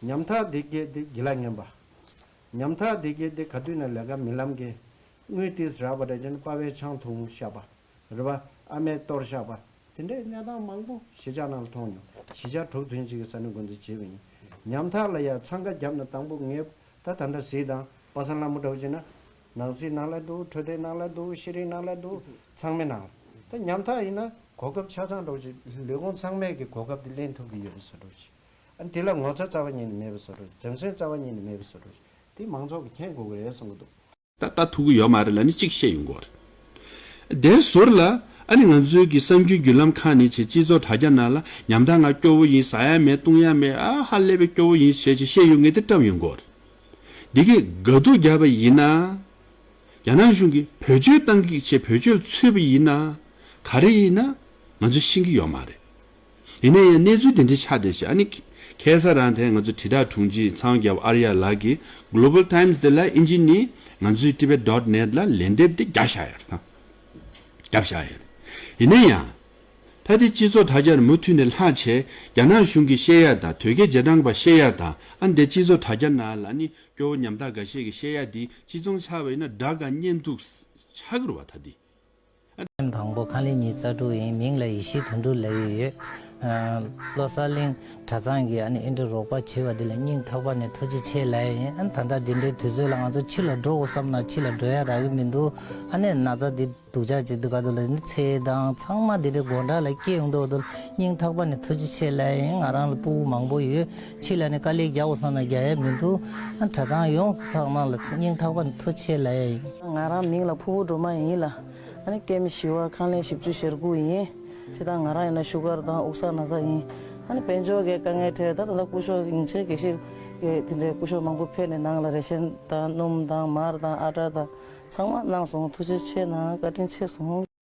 ཉམ་ཐག་སྡེ་བརྒྱད་དེ་དགེ་ལ་སྙན་པ། ཉམ་ཐག་སྡེ་བརྒྱད་དེ་ག་དུས་ན་ལས་ཀ་མི་ལམ་གེ། དངུལ་ཏིས་རགས་པ་དྲ་ཆེན་དཔའ་བའི་ཆང་འཐུང་བཤགས་པ། རི་བ་ཨ་མའི་གཏོར་བཤགས་པ། དེ་འདྲའི་གནས་སྟངས་མང་པོ་གཞིས་ཆགས་ནང་ལ་མཐོང་མྱོང། གཞིས་ཆགས་དྲུག་ཐོན་གཅིག་གི་ས་ནི་མགོ་འཛིན་བྱེད་པ་ཡིན། ཉམ་ཐག་ལ་ཡང་འཚང་ཁ་བརྒྱབ་ན་དང་པོ་ངེད་ད་ད་འདྲ་གཟིགས་དང་པ་སངས་ལ་མུ་དྲག་བྱེད་ན། ནང་གཟིགས་ནང་ལ་འདུག་འཕྲོད་བསྟེན་ནང་ལ་འདུག་ཤེས་རིག་ནང་ལ་འདུག་ཚང་མའི་ནང་ལ། ད་ཉམ་ཐག་ཡིན་ན། གོ་སྐབས་ཆ་ཚང་སྒྲོག་བྱེད་ལུས་ཁོང་ཚང་མས་ཀྱི་གོ་སྐབས་དེ་ལེན་ཐུབ་ཀྱི་ཡོད་པ་ས་སྒྲོག་བྱེད། དེ་ལ་ངོ་ཚ་རྩ་བ་ཉིད་ནས་མེད་པར་བཟོ་དགོས། འཛེམ་ཟོན་རྩ་བ་ཉིད་ནས་མེད་པར་བཟོ་དགོས། དེ་མང་ཚོགས་ཀྱིས་མཁྱེན་དགོས་ཀྱི་རེད་གསུང་གི་འདུག། ད་ལྟ་ཐུག་གི་ཡོད་མ་རེད་ལ་ནི་གཅིག་བཤད་ཡོང་གི་འོ་རེད། དེ་ཟུར་ལ་ཨ་ནི་ང་ཚོའི་གི་གསང་རྒྱུན་བརྒྱུད་ལམ་ཁག་ནི་བྱེད་སྤྱི་ཚོགས་དྲ་རྒྱ་ནང་ལ་ཉམ་ཐག་ང་སྐྱོ་བོ་ཡིན་ཟ་ཡ་མེད་བཏུང་ཡ་མེད་ཨ་ཧ་ཀླད་པའི་སྐྱོ་བོ་ཡིན་ཞེས་ཅིག་བཤད་ཡོང་ངེས་དེ་བཀྲམས་ཡོང་གི་འོ་རེད། འདི་གི་དགའ་སྡུག་བརྒྱབ་པ་ཡིན་ན། རྒྱ་ནག་གཞུང་གིས་བོད་ཆོལ་བཏང་གིག་ཆེད་བོད་ཆོལ་འཚོལ་བ་ཡིན་ན། ག་རེ་ཡིན་ན་ང་ཚོ་ཤེས་གི་ཡོད་མ་རེད། ཡིན་ན་ཡང་གནས་ཚུལ་དེ་འདྲའི་ཆ་དེ་ཞིག་ཨ་ནི། ཁེ་སར་རང་ཐལ་ང་ཚོའི་དྲིལ་བསྒྲགས་དྲུང་ཆེ་ཚང་རྒྱབ་ཨར་ཡ་ལགས་ཀྱིས Global Times དེ་ལ་ཨིན་ཇི་ནི་ང་ཚོའི Tibet Dot Net ལ་ལན་འདེབས་དེ་རྒྱག་བཞག་ཡོད་དམ། རྒྱབ་བཞག་ཡོད། ཡིན་ན་ཡང། ད་ལྟའི་སྤྱི་ཚོགས་དྲ་རྒྱར་མུ་མཐུད་ནས་ལྷག་ཆེས་རྒྱ་ནག་གཞུང་གི་བཤད་ཡག་དང་དོལ་རྒྱལ་རྗེས་འབྲང་པ་བཤད་ཡག་དང་ཨ་འདས་སྤྱི་ཚོགས་དྲ་རྒྱ་ན་ལ་ནི་སྐྱོ་བོ་ཉམ་ཐག་འགའ་ཤས་ཀྱི་བཤད་ཡག་འདི་སྤྱི་ཚོང་ཆགས་པ་ཡིན་ན་དགྲ་དགའ་གཉེན་སྡུག་ཆགས་དགོས་ར་བ་ད་འདི། ཁྱིམ་དང་པོ་ཁང་ལེ་ཉིས་རྩ་དྲུག་ཡིན་མིང་ལ་ཡེ་ཤེས་དོན་དྲུག་ལས་ཡོད་ཡོད། བློ་གསར་གླིང་གྲྭ་ཚང་གི་ཨ་ནེ་ཨེ་འདྲ་རོགས་པ་བྱེད་པ་འདི་ལ་སྙིང་ཐག་པ་ནས་ཐུགས་རྗེ་ཆེ་ལད་ཡིན་ད་ལྟ་འདི་འདྲའི་དུས་ཚོད་ལ་ང་ཚོ་ཕྱི་ལ་འགྲོ་དགོས་བསམ་ན་ཕྱི་ལ་འགྲོ་ཡ་རག་གི་མི་འདུག་ཨ་ནེ་ན་ཚ་འདི་སྡུག་ཅག་ཅིག་འདུག་ག་དུ་ལ་འདི་ཚེ་དང་ཚང་མ་འདི་འདྲའི་དགོ་འདྲ་ལ་སྐྱེས་ཡོང་དུ་འདུག་སྙིང་ཐག་པ་ནས་ཐུགས་རྗེ་ཆེ་ལད་ཡིན་ང་རང་ལ་སྤུ་བོ་མང་པོ་ཡོད། ཁྱེད་ལ་ནི་དཀའ་ལས་རྒྱག་བ་སོང་ན་རྒྱག་ཡ་མི་འདུག་གྲྭ་ཚང་ཡོངས་སུ་ཐག་གནང་ལ་སྙིང་ཐག་པ་མཐོ་ཆེ་ལ་ཡ་ཡིན། ང་རང་མིང་ལ་ཕུ་བོ་སྒྲོལ་མ་ཡིན་ལ། སྐད་མི་ཞི་བ་ཁང་ལེན་བཞི་བཅུ་ཞེར་དགུ་ཡིན། ཁྱེད་དང་ང་རང་ཡིན་ན་བཞུགས་སྒར་དང་དབུགས་ས་ན་ས་ཡིན། དཔལ་འབྱོར་གྱི་དཀའ་ངལ་ཁྲོད་ད་ད་ལྟ་སྐུ་ཞོགས་ཉིན་བྱེད་དགེ་བཤེས་ཀྱི་དེ་འདྲའི་སྐུ་ཞོགས་མང་པོ་ཕེབས་ནས་ནང་ལ་རེ་ཞེན་དང་སྣུམ་དང་མར་དང་ཨ་བྲ་དང་ཚང་མ་གནང་སོང་ཐུགས་རྗེ་ཆེ་གནང་བཀའ་དྲིན་ཆེ་སོང།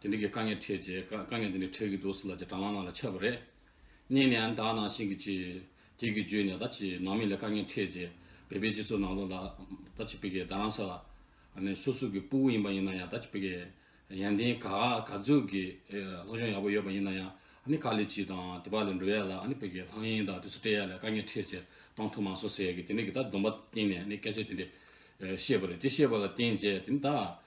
དེ་འདྲ་གི་དཀའ་ངལ་འཕྲད་རྗེས་དཀའ་ངལ་འདི་འདྲ་འཕྲད་ཀྱི་འདུག་ཟེར་ལ་རྗེས་འབྲང་ལག་ནང་ལ་འཆར་བ་རེད། གཉིས་ནས་ཨ་མདའ་ནང་བཞིན་གྱི་ཅི། དེ་གི་བརྗོད་ནས་ད་ཅི་ནང་མི་ལ་དཀའ་ངལ་འཕྲད་རྗེས་བལ་པའི་སྤྱི་ཚོགས་ནང་ལོག་ལ་ད་ཅི་བི་གའི་ཟླ་རང་ས་ལ། ནས་སོ་སོ་གི་སྤུ་བོ་ཡིན་པ་ཡིན་ན་ཡང་ད་ཅི་བི་གའི་ཡན་ཏན་ག་ག་རྫོད་གི་སློབ་སྦྱོང་ཡག་པོ་ཡོད་པ་ཡིན་ན་ཡང་ཨ་ནི་ཁ་ལས་ཅི་དང་དེ་བ་ལས་འགྲོ་ཡ་ལ་ཨ་ནི་བི་གའི་ལྷང་ཡེན་དང་དེ་ཚོ་སྤྲད་ཡ་ལ་དཀའ་ངལ་འཕྲད་རྗེས་གཏོང་ཐུབ་མ་སོང་ཟེར་གི་དེ་འདྲ་གི་ད་སྡོམ་པ་བཏིང་ནས་ནི་སྐད་ཆ་དེ་འདྲ་བཤད་པ་རེད་དེ་བཤད་པ་ལ་བརྟེན་རྗེས་དེ་ནི་ད།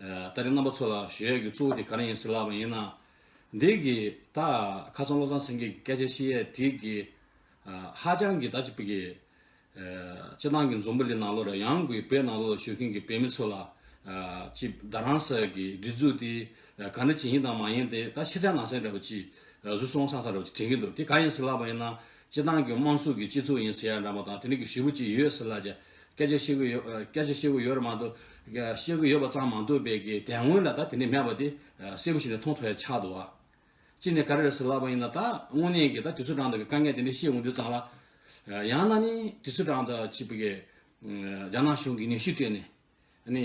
ལྟ་རའི་རྣམ་པ་ཚོ་ལ་གཞོལ་ཡས་ཀྱི་གཙོ་བོ་དེ་ག་རེ་ཡིན་ཟེར་ལབ་པ་ཡིན་ན། འདི་གི་ད་ཁ་སང་བློ་བཟང་སེང་གེ་གི་སྐད་ཆ་ཤི་ཡས་དེ་གི་ཧ་ཅང་གི་ད་ཅི་པི་གི། སྤྱི་བཏང་གི་འཛོམས་པུ་ལི་ནང་ལོ་ར་ཡང་གུའི་བེ་ནང་ལོ་ལ་བཞུགས་མཁན་གི་བེ་མི་ཚོ་ལ། ཅི་བདག་རང་ས་གི་སྒྲིག་འཛུགས་དེ་ག་འདྲ་ཅི་ཡིན་དང་མ་ཡིན་དེ་ད་ཤི་ཚད་ནང་ཚད་ར་བ་ཅི་གཟུ་སོང་ཚང་ཚང་ར་བ་ཅི་དྲན་གི་འདུག་དེ་ག་ཡིན་ཟེར་ལབ་པ་ཡིན་ན་སྤྱི་བཏང་གི་དམངས་གཙུགས་གི་སྤྱི་ཚུགས་ཡིན་ཟེར་ཡ་འདྲ་མ་དང་དེ་འདྲ་གི་ཞི་བུ་ཅི་ཡོད་ཟེར་ལབ་ཅི། སྐད་ཆ་བཤད་གི་ཡོད། སྐད་ཆ་བཤད་གི་ཡོད་རེད་མ་གཏོགས། བཤད་གི་ཡོད་པ་ཙམ་མ་འདུག་པས་ཀྱི་དེ་སྔོན་ལ་ད་དེ་ནས་མེད་པ་དེ་གསལ་པོ་ཞིག་ནས་མཐོང་ཐོས་ཆགས་འདུག་བ། གཅིག་ནས་ག་རེ་རེད་ཟེར་ལབ་པ་ཡིན་ན་ད་དངོས་གནས་ཀྱི་ད་དུས་ཚོད་གྲངས་འདུག་པའི་དཀའ་ངལ་དེ་འདྲ་བཤད་འོང་དུས་ཙང་ལ། ཡང་ན་ནི་དུས་ཚོད་གྲངས་འདུག་ཅེས་པའི་ཀྱི། རྒྱ་ནག་གཞུང་གི་ནུས་ཤུགས་སྤྲད་ནས། ནི།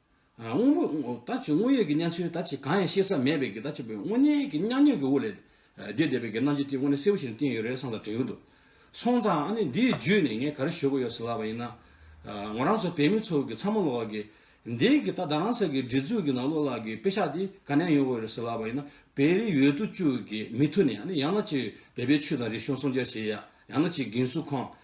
དངོས་པོ་ད་ཅི་དངོས་ཡོད་ཀྱི་གནས་ཚུལ་ད་ཅི་གང་ཡང་ཤེས་ས་མེད་པས་ད་ཅི་དངོས་གནས་ཀྱི་སྙང་ཉོན་གྱི་དབུ་ལས་འདས་བསྡད་པའི་གྱི་སྣང་བྱེད་དེ་དངོས་གནས་གསལ་པོ་ཞིག་ནས་བསྟན་ཡོད་རེད་བསམ་ཙང་དྲན་གྱི་འདུག་སོང་ཙང་ཨ་ནི་འདིའི་བརྒྱུད་ནས་ངས་ག་རེ་ཞུ་གི་ཡོད་ཟེར་ལབ་པ་ཡིན་ན། ངོ་རང་ཚོ་བོད་མི་ཚོ་གི་ཚ་མོ་ལོག་གི། འདི་གི་ད་རང་ས་གི་འདྲི་རྩུག་གི་ནང་ལོག་ལག་གི་དཔེ་ཤག་འདི་ག་ནས་ཡོང་གི་ཡོད་རེད་ཟེར་ལབ་པ་ཡིན་ན་བེ་རི་ཡོད་དུ་བཅུག་གི་མི་ཐུ་ནས་ཨ་ནི་ཡང་ན་ཅིག་བལ་པའི་ཆུ་དང་རི་གཤོང་སྲུང་བྱ་བྱེད་ཡ་ཡང་ན་ཅིག་གིན་སུ་ཁང།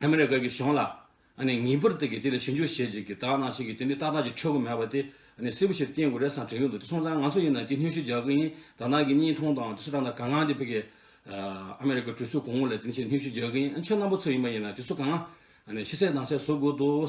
ཨ་མེ་རི་ཀ་གི་གཞུང་ལ་ངེས་པར་དུ་གི་དེ་ལ་ཞིབ་འཇུག་བྱེད་ཅིག་གི་དག་སྣང་བྱེད་གི་དེ་ནི་ཏག་ཏག་ཅིག་འཕྲོད་གི་མེད་པ་དེ་སིལ་བུ་ཞིག་ཏུ་བསྟན་དགོས་རེད་བསམ་དྲན་གི་འདུག་དེ་སོང་ཙང་ང་ཚོ་ཡིན་ན་དེ་སྙུན་གཞི་རྒྱག་གི་ཡིན་དག་སྣང་གི་གཉིས་མཐོང་དང་དེ་སུ་དང་ད་གང་སྔགས་འདི་ཕེ་གི་ཨ་མེ་རི་ཀ་གྲོས་ཚུགས་གོང་ལ་དེ་ནི་ཞེས་སྙུན་གཞི་རྒྱག་གི་ཡིན་ཁྱོད་རྣམ་པ་ཚོ་ཡིན་པ་ཡིན་ན་དེ་སུ་གང་ཤི་སྲེག་སྡང་སྲེག་བཟོ་དགོས་འདུག།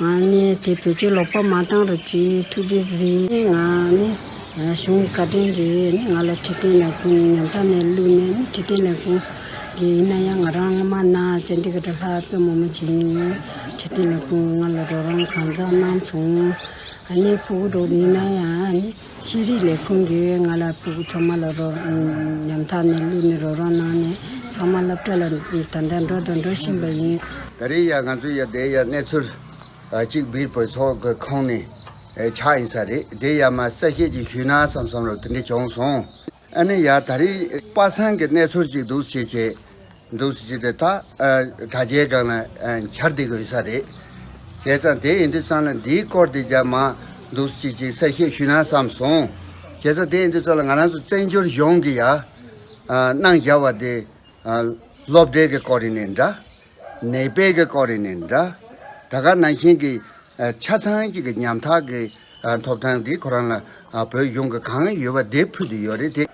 ང་ནི་དེ་བོད་ཀྱི་ཀློག་པ་མ་བཏང་རུ་ཅི་ཐུགས་རྗེ་གཟིགས། ང་ནི་གཞུང་བཀའ་དྲིན་གྱིས་ནི་ང་ལ་ཁྲི་སྟེང་ལས་ཁུངས་ཉམ་ཐག་ནས་བླུགས་ནས་ནི་ཁྲི་སྟེང་ལས་ཁུངས་ཀྱི་ཡིན་ན་ཡང་ང་རང་སྔ་མ་ན་སྤྱན་ལྡན་གྱི་དྲ་ལྷག་དཔོན་མོ་མོ་བྱིངས་ཡིན་ཡང་ཁྲི་སྟེང་ལས་ཁུངས་ང་ལ་རོགས་རམ་གང་འཚམས་གནང་བྱུང། ནི་ཕུག་རོགས་ཡིན་ན་ཡང་ནི། ཤེས་རིག་ལས་ཁུངས་ཀྱིས་ང་ལ་ཕུ་གུ་ཚང་མ་ལ་རོགས་ཉམས་ཐག་ནས་བླུགས་ནས་རོགས་རམ་གནང་ནས་ཚང་མ་སློབ་གྲྭ་ལ་ད་ལྟ་འགྲོ་དང་འགྲོ་བཞིན་པ་ཡིན། ད་རེས་ཡང་ང་ཚོ་ཡར་བསྡད་ཡར་གནས་ཚུལ་གཅིག་སྦིར་བོད་ཚོགས་ཀྱི་ཁོངས་ནས་ཆགས་ཡིན་ས་རེད་དེ་ཡར་མར་གསལ་བཤད་ཅིག་ཞུས་ན་བསམ་བསམ་རུང་དེ་འདྲས་བྱུང་སོང་ཨ་ནི་ཡར་ད་རེས་པ་སངས་ཀྱི་གནས་ཚུལ་གཅིག་འདུག་ཞེས་བྱས། འདུག་སུ་བྱས་ཏེ་ད་དྲ་རྒྱའི་སྒང་ལ་འཁྱར་འདེད་དགོས་ས་རེད། བྱས་ཙང་དེ་ཡིན་དུས་ཙང་ལ་འདིའི་སྐོར་དེ་རྒྱབ་མ་འདུག་སུ་བྱས་ཅིག་གསལ་བཤད་ཞུས་ན་བསམ་སོང། བྱས་ཙང་དེ་ཡིན་དུས་ཙང་ལ་ང་རང་ཚོ་བཙན་བྱོལ་གཞུང་གི་ཡནང་བཞག་བ་དེ་སློབ་གྲྭའི་གི་སྐོར་རེད་ནས་འདྲ། ནད་དཔེ་གི་སྐོར་རེད་ནས་འདྲ། ད་ག་ནང་བཞིན་གི་ཆ་ཚང་གཅིག་གི་ཉམ་ཐག་གི་ཐོབ་ཐང་དེ་ཁོ་རང་ལ་བོད་གཞུང་གི་གང་ཡོད་པ་དེ་ཕུལ་དུ་ཡོད་རེད་དེ།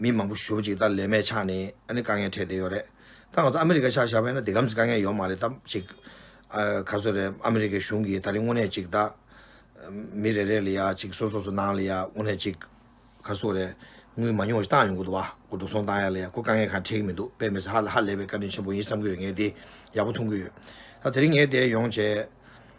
མི་མང་པོ་བཞུགས་གཅིག་ད་ལས་མེད་ཆགས་ནས་ཨ་ནི་དཀའ་ངལ་འཕྲད་བསྡད་ཡོད་རེད་ད་ང་ཚོ་ཨ་མི་རི་ཀ་ཆགས་བཞག་པས་ན་འདི་གམ་ཚིག་དཀའ་ངལ་ཡོད་མ་རེད་ད་ཅིག་ག་ཚོད་རེད་ཨ་མི་རི་ཀའི་གཞུང་གིས་ད་རིང་དངོས་གནས་ཅིག་ད་མི་རེ་རེ་ལ་ཡ་ཅིག་སོ་སོ་སོ་ནང་ལ་ཡ་དངོས་གནས་ཅིག་ག་ཚོད་རེད་དངུལ་མ་ཉུང་བ་ཞིག་བཏང་ཡོང་གི་འདུག་བ་སྐུ་འགྲོ་སོང་བཏང་ཡ་ལ་ཡ་ཁོ་དཀའ་ངལ་གང་འཕྲད་ཀྱི་མི་འདུག་དཔེ་མི་ཧ་ལས་པའི་བཀའ་དྲིན་ཆེན་པོ་ཡིན་བསམ་གྱི་ཡོད་ངས་འདི་ཡག་པོ་མཐོང་གི་ཡོད་ད་དེ་རིང་ངས་བསྡད་ཡོང་བྱས།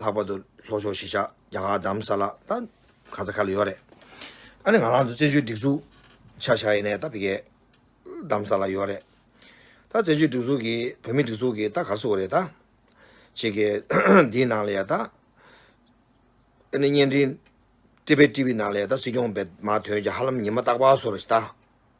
ལྷག་པར་དུ་ལྷོ་ཕྱོགས་གཞིས་ཆགས་རྒྱ་གར་དམ་ས་ལ་དང་ག་ཚ་ཁ་ལ་ཡོད་རེད། ཨ་ནི་ང་རང་ཚོ་བཙན་བྱོལ་སྒྲིག་འཛུགས་ཆགས་ཤག་ཡིན་ནས་ད་བི་གའི་དམ་ས་ལ་ཡོད་རེད། ད་བཙན་བྱོལ་སྒྲིག་འཛུགས་ཀྱི་བོད་མི་སྒྲིག་འཛུགས་ཀྱི་ད་གར་སོ་རེད་ད། ཕྱི་གི་འདིའི་ནང་ལ་ཡ་ད། ཨ་ནི་བརྙན་འཕྲིན། ཏི་བྷེ་ཏི་བྷི་ནང་ལ་ཡ་ད་སྲིད་སྐྱོང་བེད་མ་དོན་གྱི་ཧ་ལམ་ཉི་མ་རྟག་པ་སོ་རེད་ད།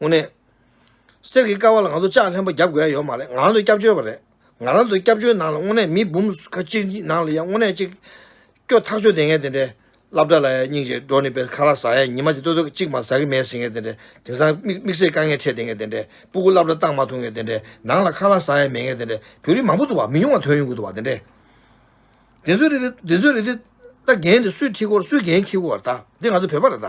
དངོས་གནས། གསེར་གྱི་ཀ་བ་ལ་ང་ཚོ་ལྕགས་ལྷན་པ་རྒྱབ་དགོས་ཡ་ཡོད་མ་རེད་ང་རང་ཚོ་སྐྱབས་བཅོལ་བ་རེད་ང་རང་ཚོ་སྐྱབས་བཅོལ་ནང་ལ་དངོས་གནས་མི་འབུམ་ཁ་གཅིག་ནང་ལ་ཡ་དངོས་གནས་ཅིག་སྐྱོ་ཐག་ཆོད་དེ་ངས་དེ་འདྲའི་སླབ་གྲྭ་ལ་ཡ་སྙིང་རྗེ་འགྲོ་ནི་པའི་ཁ་ར་ཟ་ཡ་ཉི་མ་ཅིག་ལྟོས་ཐོ་གཅིག་མ་ཟ་གི་མེད་ཟེར་ངས་དེ་འདྲའི་དེང་སང་དམིགས་བསལ་དཀའ་ངལ་འཕྲད་དེ་ངས་དེ་འདྲའི་སྤུ་སྐུ་སླབ་གྲྭ་བཏང་མ་ཐུབ་ངས་དེ་འདྲའི་ནང་ལ་ཁ་ར་ཟ་ཡ་མེད་ངས་དེ་འདྲའི་བོད་རིགས་མང་པོ་འདུག་བ་མི་ཉུང་བ་དོན་ཡོང་གི་འདུག་བ་དེ་འདྲའི། དེ་ཚོའི་རིགས་དེ་དེ་ཚོའི་རིགས་དེ་ད་རྒན་དེ་སུས་ཁྲིད་སྐོར་སུས་རྒན་ཁྱི་གུ་བར་ད་འདི་ང་ཚོ་བོད་པ་རེད་ད།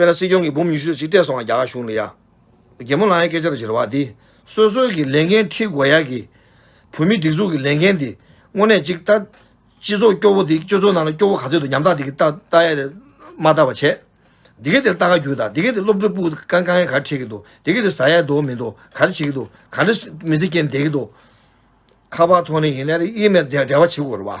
དཔེར་ན་སྲིད་སྐྱོང་གིས་འབུམ་ཉི་ཤུ་ཟིག་སྤྲད་སོང་བ་རྒྱ་གར་གཞུང་ལ་ཡ། རྒན་མོ་ལངས་ཡའི་སྐད་ཆ་ལ་བཞིར་བ་འདི། སོ་སོའི་གི་ལས་འགན་ཁྲིད་དགོས་ཡག་གི། བོད་མི་སྒྲིག་འཛུགས་གི་ལས་འགན་འདི། དངོས་གནས་ཅིག་ལྟ། སྤྱི་ཚོགས་སྐྱོ་བོ་འདི་སྤྱོད་ཚོགས་ནང་ལ་སྐྱོ་བོ་ག་ཚོད་འདུག་ཉམས་ཐག་འདི་གི་ལྟ་ལྟ་ཡ། མ་ལྟ་བ་བྱས། འདི་གི་དེར་ལྟ་ག་རྒྱུ་ལྟ་འདི་གི་དེ་སློབ་གྲོགས་སྤུ་ག་དཀའ་ངལ་ག་རེ་འཕྲད་གི་འདུག་འདི་གི་དེ་ཟ་ཡ་འདུག་མི་འདུག་ག་རེ་བྱེད་གི་འདུག་ག་འདྲ་མི་ཚེ་སྐྱེལ་ནས་བསྡད་གི་འདུག། ཁ་བ་ཐོག་ནས་ཡིན་ན་ཡིན་མེད་འབྲེལ་བ་བྱེད་དགོས་རེད་བ།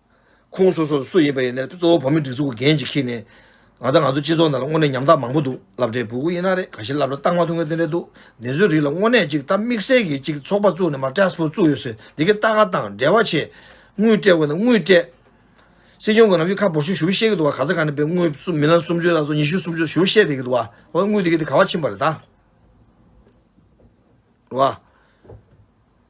ཁོང་སོ་སོར་སུ་ཡིན་པ་ཡིན་ནའི་གཙོ་བོ་བོད་མིའི་སྒྲིག་འཛུགས་ཀྱི་འགན་ཅིག་ཁྱེར་ནས། ང་དང་ང་ཚོའི་སྤྱི་ཚོགས་ནང་ལ་དངོས་གནས་ཉམ་ཐག་མང་པོ་འདུག་ལབ་འདྲེ་བུ་གུ་ཡིན་ན་རེད་ག་ཤེད་ལབ་འདྲ་རྟགས་མ་ཐོན་མཁན་དེ་འདྲ་འདུག་འདི་ཚོའི་རིགས་ལ་དངོས་གནས་ཅིག་ད་དམིགས་བསལ་གྱིས་ཅིག་ཚོགས་པ་བཙུགས་ནས་མ་ཏྲེས་པོ་བཙུགས་ཡོད་ཟེར་འདི་གའི་རྟགས་ང་དང་འབྲེལ་བ་ཆེ། དངུལ་སྤྲད་དགོས་ན་དངུལ་སྤྲད། སྲིད་སྐྱོང་གི་ནམ་ཞུ་ཁ་འབོར་ཞུ་ཞུ་བའི་བཤད་ཀྱི་འདུག་བ་ག་ཚ་ག་ནས་པའི་དངུལ་སུ་མི་ལ་སུམ་ཅུ་ལ་སོ་ཉི་ཤུ་སུམ་ཅུ་ལ་ཞུ་བཤད་དེ་གི་འདུག་བ་བ་དངུལ་དེ་གི་དེ་ག་བ་ཕྱིན་པ་རེད་ད། བ།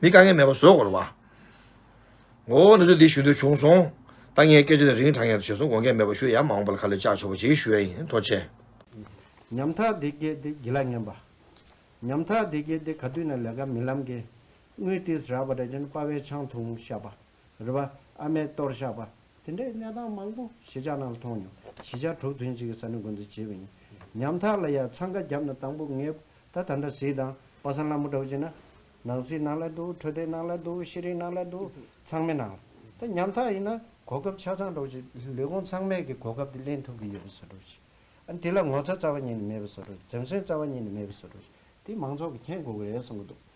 མི་དཀའ་ངལ་མེད་པར་བཟོད་དགོས་ལ། བའོ། ནུ་ཚོད་འདི་ཞུ་འདོད་བྱུང་སོང། ད་ངས་སྐད་ཆ་དེ་རིང་དྲང་ངེར་བྱས་སོང་དགོངས་སྐད་མེད་པར་ཞུ་ཡག་མ་འོངས་པ་ལ་ཁ་ལས་བཅག་ཆོག་པ་ཅིག་ཞུ་ཡ་ཡིན་ཐོ་ཆེ། ཉམ་ཐག་བདེ་སྐྱིད་དེ་གྱི་ལ་ཉམས་པ། ཉམ་ཐག་བདེ་སྐྱིད་དེ་ག་དུས་ནས་ལས་ཀ་མི་ལམ་གི། དངུལ་ཏིས་རག་པ་འདྲ་ཅན་དཔའ་བའི་ཆང་འཐུང་ཤ་པ། རི་བ། ཨ་མའི་གཏོར་བཤགས་པ། དེ་འདྲའི་གནས་སྟངས་མང་པོ་གཞིས་ཆགས་ནང་ལ་མཐོང་མྱོང། གཞིས་ཆགས་དྲུག་ཐོན་གཅིག་གི་ས་ནི་འགོ་འཛུགས་བྱས་པ་ཡིན། ཉམ་ཐག་ལ་ཡང་འཚང་ཁ་བརྒྱབ་ན་དང་པོ་ངེས། ད་ད་འདྲ་གཟིགས་དང། པ་སངས་ལ་མུ་དྲག་བྱེད་ན། ནང་གཟིགས་ནང་ལ་འདུག་འཕྲོད་བསྟེན་ནང་ལ་འདུག་ཤེས་རིག་ནང་ལ་འདུག་ཚང་མའི་ནང་ལ། ད་ཉམ་ཐག་ཡིན་ན། གོ་སྐབས་ཆ་ཚང་སྒྲོག་ཅིག་ལས་ཁུངས་ཚང་མས་ཀྱི་གོ་སྐབས་དེ་གླེང་ཐུབ་ཀྱི་ཡོད་པ་བཟོ་སྒྲོག་ཅིག། ཨ་དེ་ལ་ངོ་ཚ་རྩ་བ་ཉིད་ནས་མེད་པ་བཟོ་སྒྲོག་ཅིག་འཛེམ་ཟོན་རྩ་བ་ཉིད་ནས་མེད་པ་བཟོ་སྒྲོག་ཅིག་དེ་མང་ཚོགས་ཀྱི་མཁྱེན་དགོས་གི་རེད་གསུང་གི་འདུག།